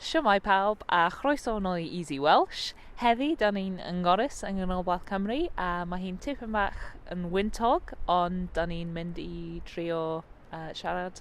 Shwmae pawb a chroeso nol i Easy Welsh. Heddi da ni'n yng Ngorris yng Nghanolbarth Cymru a mae hi'n tipyn bach yn wyntog ond da ni'n mynd i drio uh, siarad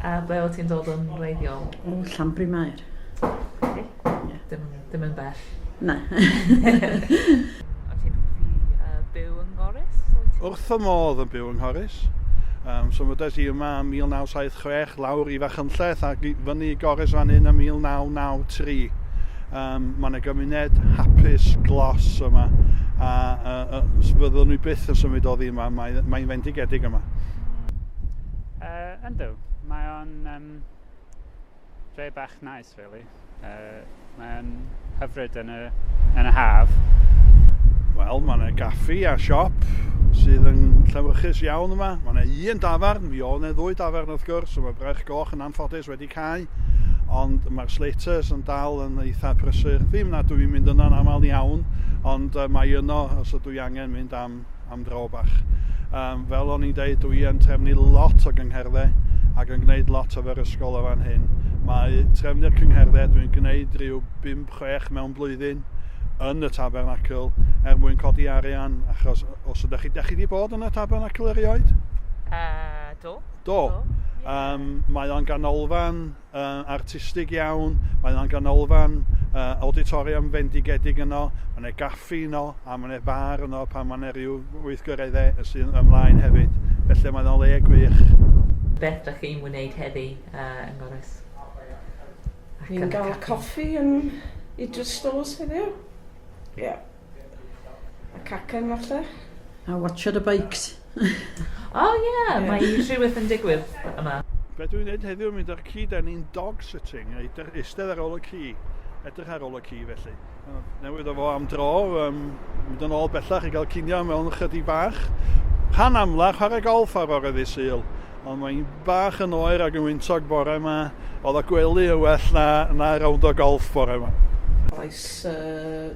A ble wyt ti'n dod yn wreiddiol? O, Llanbryn Mair. Oce. Ie. Dim, dim yn bell. Na. Wyt ti'n hoffi uh, byw yng Nghoris? Wrth y modd yn byw yng Nghoris. Um, so mydes i yma yn 1976, lawr i Fachynlleth ac i fyny i Goris fan hyn yn 1993. Um, Mae'n y gymuned hapus glos yma a, a, a fyddwn ni byth yn symud o ddi yma, mae'n mae fendigedig yma. Yndw, mae o'n um, dre bach nice, really. Uh, mae o'n hyfryd yn y, yn y haf. Wel, mae yna gaffi a siop sydd yn llewyrchus iawn yma. Mae yna un dafarn, mi oedd yna ddwy dafarn wrth gwrs, so mae Brech Goch yn anffodus wedi cael, ond mae'r Slaters yn dal yn eitha prysur. Ddim nad dwi'n mynd yno'n aml iawn, ond mae yno os ydw i angen mynd am am dro bach. Um, fel o'n i'n dweud, dwi yn trefnu lot o gyngherddau ac yn gwneud lot o fer ysgol o fan hyn. Mae trefnu'r cyngherddau dwi'n gwneud rhyw 5-6 mewn blwyddyn yn y tabernacl er mwyn codi arian, achos os ydych chi, chi wedi bod yn y tabernacl erioed? Uh, do. Do. do. Yeah. Um, mae o'n ganolfan uh, artistig iawn, mae yna'n ganolfan uh, auditorium fendigedig yno, mae yna gaffi yno, a mae yna far yno pan mae yna rhyw weithgareddau y sy'n ymlaen hefyd. Felly mae yna le gwych. Beth da chi'n wneud heddi uh, yn Gorys? Ni'n gael coffi yn Idris Stores heddiw. Ie. Yeah. A cacen falle? A watch ar y bikes. O oh, ie, yeah, mae rhywbeth yn digwydd yma. Be dwi'n neud heddiw yn mynd ar ci, da ni'n dog sitting, eistedd eistedd ar ôl y ci, edrych ar ôl y ci felly. Newid o fo am dro, um, mynd yn ôl bellach i gael cinio mewn ychydig bach. Rhan amlach chwarae golf ar ôl eddi syl, ond mae'n bach yn oer ac yn wyntog bore yma, oedd y gwely yn well na, na rownd o golf bore yma. Oes uh,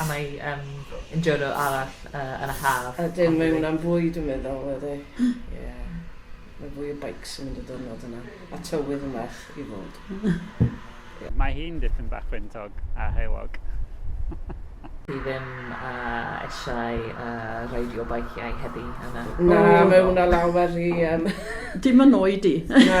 A mae yym yn diwrnod arall yy yn y haf. Ydyn mae hwnna'n fwy dwi'n meddwl ydi. Ie. Mae fwy o beics yn mynd y diwrnod yna. A tywydd yn well i fod. Ie. Mae hi'n dipyn bach gwyntog a heulog. Dwi ddim yy eisiau yy reidio beiciau heddi yn y... Na mae hwnna lawer rhy yym... Dim yn oed i. Na.